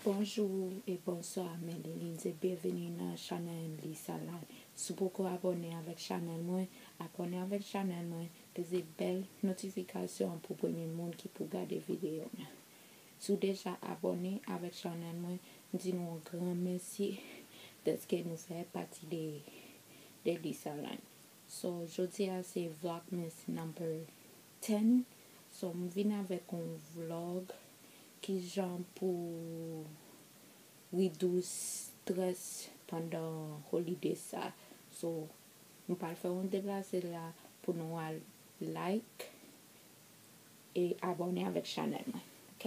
Bonjou e bonswa mwen li Lindsay byenveni nan chanèl Lisa la si w poko abòne avèk chanèl mwen abòne avèk chanèl mwen peze bèl notifikasyon an pou premye moun ki pou gade videyo mwen si w deja abòne avèk chanèl mwen m di nou yon gran mèsi dèske nou fè pati de Lisaline so jodi a se vlogmas number 10 so m vin avèk on vlog kijan pou reduce stress pandan holiday sa so m pral fè on deplase la pou nou al like e abòne avèk chanèl mwen ok.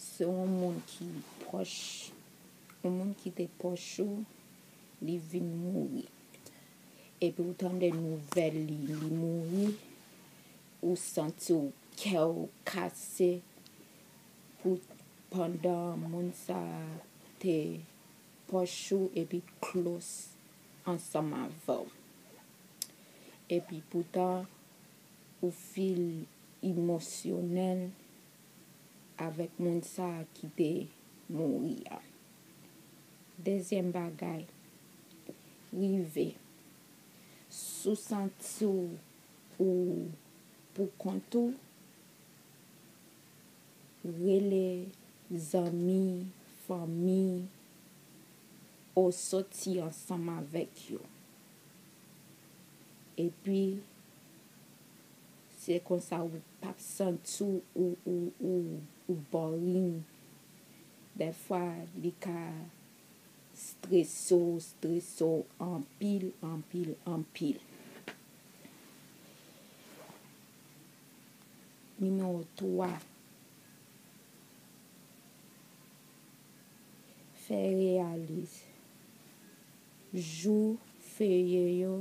Se yon moun ki pwòch, yon moun ki te pwòch ou, li vin mouri. Epi ou tande nouvèl li, li mouri, ou santi w kè w kase pou pandan moun sa a te pwòch ou epi klous ansanm avè w. Epi poutan ou feel emosyonèl. avèk moun sa a ki te mouri a. Dezyèm bagay, rive. Si w santi w ou poukont ou, rele zanmi, fanmi ou soti ansanm avèk yo. Epi. Se konsa ou pap santi w ou boring. Dèfwa li ka strese w, strese w anpil, anpil, anpil. Nimewo 3, Fè reyalis. Jou feriye yo.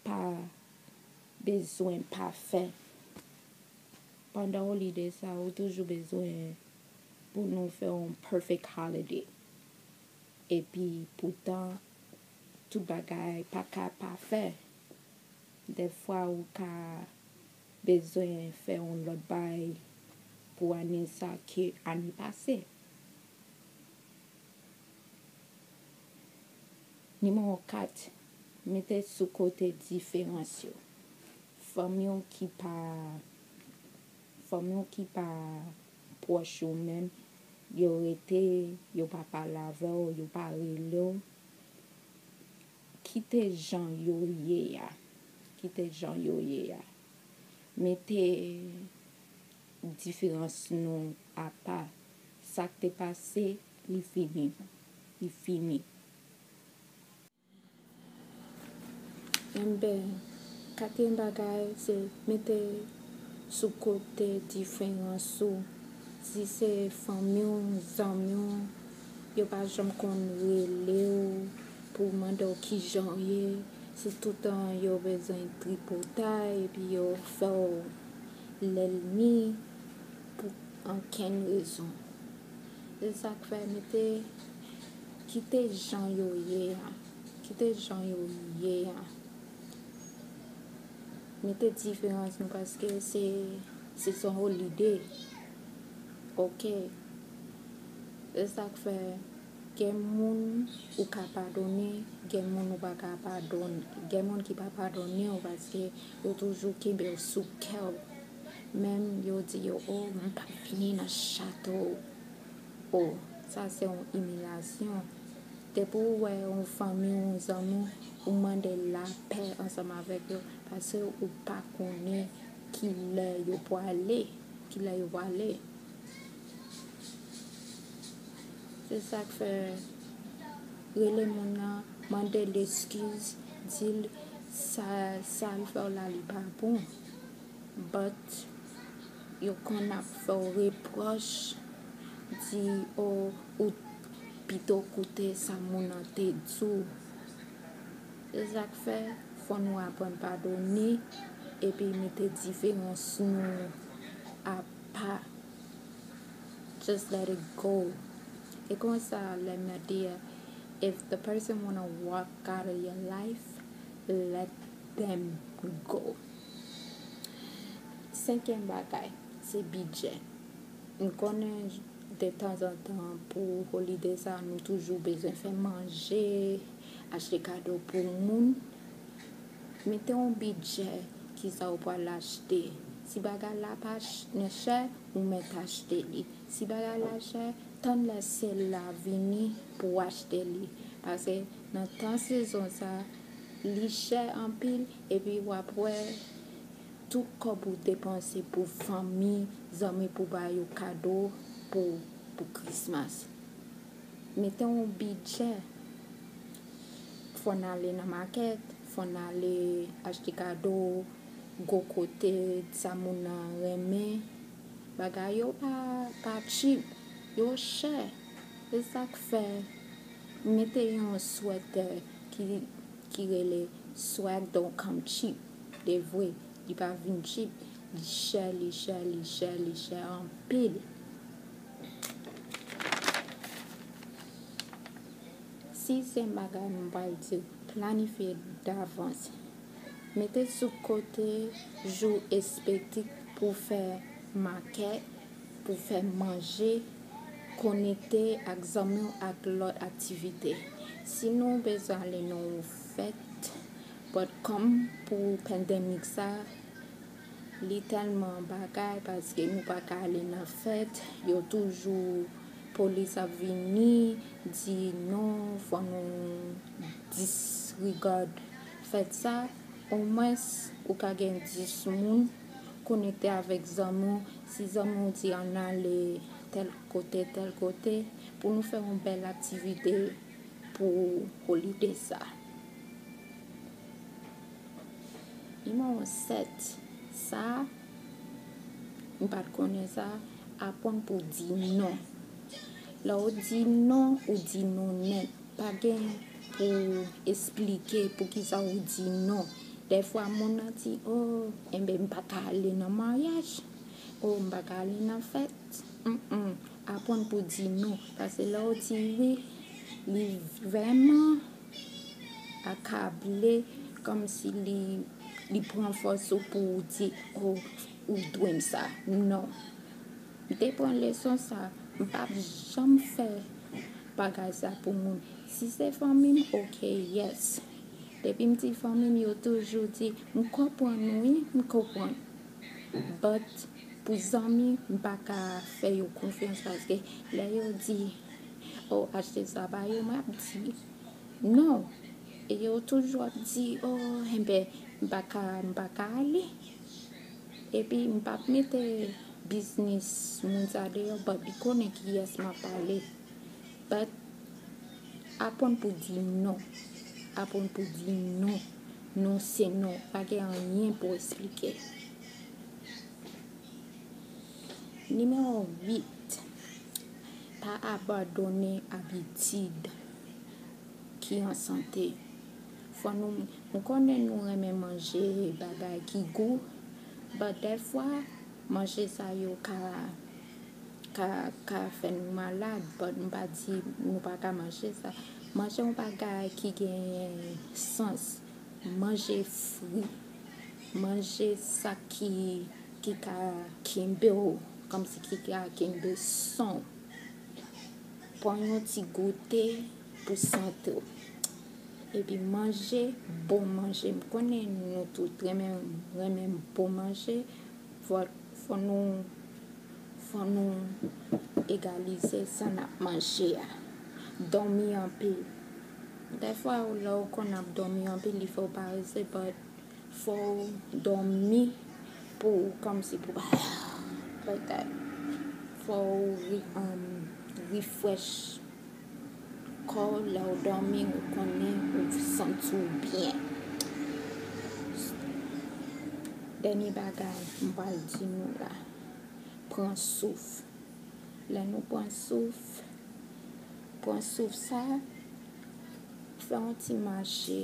Pa bezwen pafen. Pandan ou li de sa, ou toujou bezwen pou nou fè yon perfect holiday. Epi poutan, tout bagay pa ka pafen. Dèfwa ou ka bezwen fè yon lòt bay pou ane sa ke ane pase. Nimewo 4, Mete sou kote diferans yo. Fanmi w ki pa Fanmi w ki pa pwòch ou menm, yo rete, yo pa pale avè w, yo pa rele w, kite jan yo ye a. Kite jan yo ye a. Mete diferans nou apa. Sa k te pase. Li fini. Li fini. Enben, katriyèm bagay se mete sou kote diferans ou. Si se fanmi w, zanmi w, yo pa janm konn rele w pou mande w ki jan w ye. Se toutan yo bezwen tripotay epi yo fè w lèlmi pou ankenn rezon. Se sa k fè nou te kite jan yo ye a. Kite jan yo ye a. Mete diferans nou paske se son ou lide. Ok. Se sa k fè gen moun ou ka padone, gen moun ou pa ka padone. Gen moun ki pa padone ou paske yo toujou kenbe yo sou kè ou. Menm yo di yo o m pap vini nan chato w o sa se yon imilyasyon depi w wè yon fanmi w yon zanmi w ou mande lapè ansanm avèk yo paske ou pa konnen kilè yo pwale kilè yo pwale se sak fè rele moun nan mande l eskiz di l sa l fè w la li pa bon. But yo konn ap fèw reproch di oh ou t pito koute sa moun an te diw. Se sak fè fò nou aprann padone epi mete diferans nou apa. Just let it go. E konsa lè Nadia if the person wanna walk out of your life let Them go. Senkyèm bagay, se bidjè. M konnen de tanzantan pou holide sa nou toujou bezwen fè manje, achte kado pou moun. Mete yon bidjè ki sa ou pral achte. Si bagay la pa nan chè, ou mèt achte li. Si bagay la chè, tann lè sèl la vini pou achte li. Pase nan tan sezon sa, Li chè anpil epi wap wè tout kòb ou depanse pou fanmi, zanmi pou ba yo kado pou Christmas. Mete yon bidjè. Fòn ale nan makèt, fòn ale achte kado, go kote, sa moun nan renmen. Bagay yo pa cheap, yo chè. Se sak fè mete yon swètè. ki rele swag don't come cheap de vwe li pa vin cheap li chè li chè li chè li chè anpil si se yon bagay m pral diw planifye davans mete sou kote jou espetik pou fè makèt pou fè manje Konekte ak zanmi w ak lòt aktivite. Si nou bezwen ale nan yon fèt bòdkòm pou pandemic sa, li tèlman bagay paske nou pa ka ale nan fèt, yo toujou polis ap vini di non fò nou disregard fèt sa, omwens ou ka gen 10 moun. Konekte avèk zanmi w, si zanmi w di ann ale tèl kote, tèl kote, pou nou fè yon bèl aktivite pou holide sa. Nimewo 7, sa, m pa t konnen sa, aprann pou w di non. Lè w di non, ou di non nèt. Pa gen pou esplike poukisa ou di non. Dèfwa moun nan di, oh, enben m pa ka ale nan maryaj, oh, m pa ka ale nan fèt. Humm, aprann pou di non. Pase lè w di wi, li vrèman akable kòm si li pran fòs ou pou w di, oh, ou dwe m sa. Non. M te pran leson sa, m pa p janm fè bagay sa pou moun. Si se fanmi m, ok, yes. Depi m ti fanmi m yo toujou di m konprann wi m konprann but pou zanmi m pa ka fè yo konfyans paske lè yo di oh achte sa ba yo mwen ap di non e yo toujou ap di oh enben m pa ka m pa ka ale epi m pap mete biznis moun sa deyò but li konnen kiyès m ap pale but Apwann pou di non. Apwann pou di non. Non se non. Pa gen anyen pou esplike. Nimewo 8, Pa abandone abitid ki an sante. Fwa nou, nou konnen nou renmen manje bagay ki gou, but dèfwa manje sa yo ka. ka ka fè nou malad but m pa di nou pa ka manje sa manje yon bagay ki genyen sans manje fri manje sa ki ki ka kenbe w kòmsi ki ka kenbe san w pran yon ti goute pou sante w epi manje bon manje m konnen nou tout renmen renmen bon manje Fò nou fò nou egalize sa n ap manje a. Dòmi anpil. Dèfwa ou lè ou konn ap dòmi anpil li fè ou parese but fò ou dòmi pou ou kòmsi pou ba like that. Fò ou ri um ri fresh. Kò w lè w dòmi ou konnen ou santi w byen. Dènye bagay m pral di nou la, pran souf. Lè nou pran souf, pran souf sa, fè yon ti mache.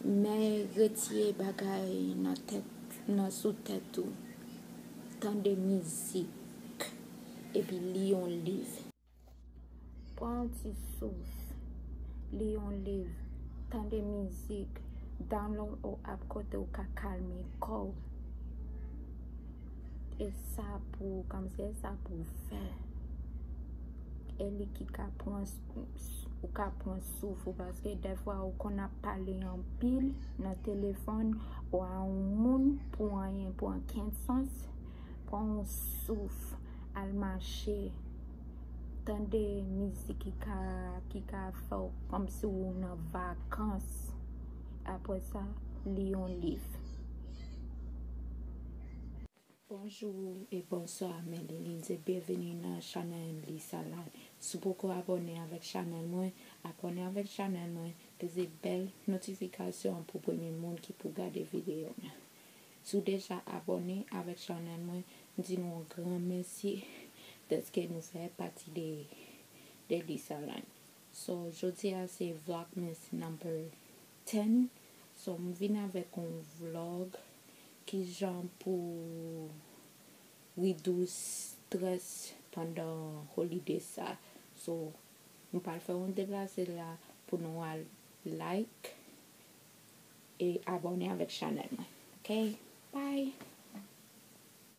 Men retire bagay nan tèt, nan sou tèt ou. Tande mizik, epi li yon liv. Pran yon ti sous, li yon liv, tande mizik, download yon app kote ou ka kalme kò ou. E sa pou ou kòmsi, e sa pou ou fè. E li ki ka pran ou ka pran souf ou paske defwa ou konn ap pale anpil nan telefòn ou a yon moun pou anyen pou ankenn sans. Pran yon souf. al mache, tande mizik ki ka fè w kòmsi w nan vakans, apre sa li yon liv. Bonjou e bonswa mwen Lilise byenveni nan chanèl Lisa Live si w poko abòne avèk chanèl mwen abòne avèk chanèl mwen peze bèl notifikasyon an pou premye moun ki pou gade videyo mwen Si w deja abòne avèk chanèl mwen, m di nou yon gran mèsi dèske nou fè pati de de Lisaland. So jodi a se vlogmas number ten so m vin avèk yon vlog kijan pou reduce stress pandan holiday sa so m pral fè yon deplase la pou nou al like E abone avek chanel mwen ok bye.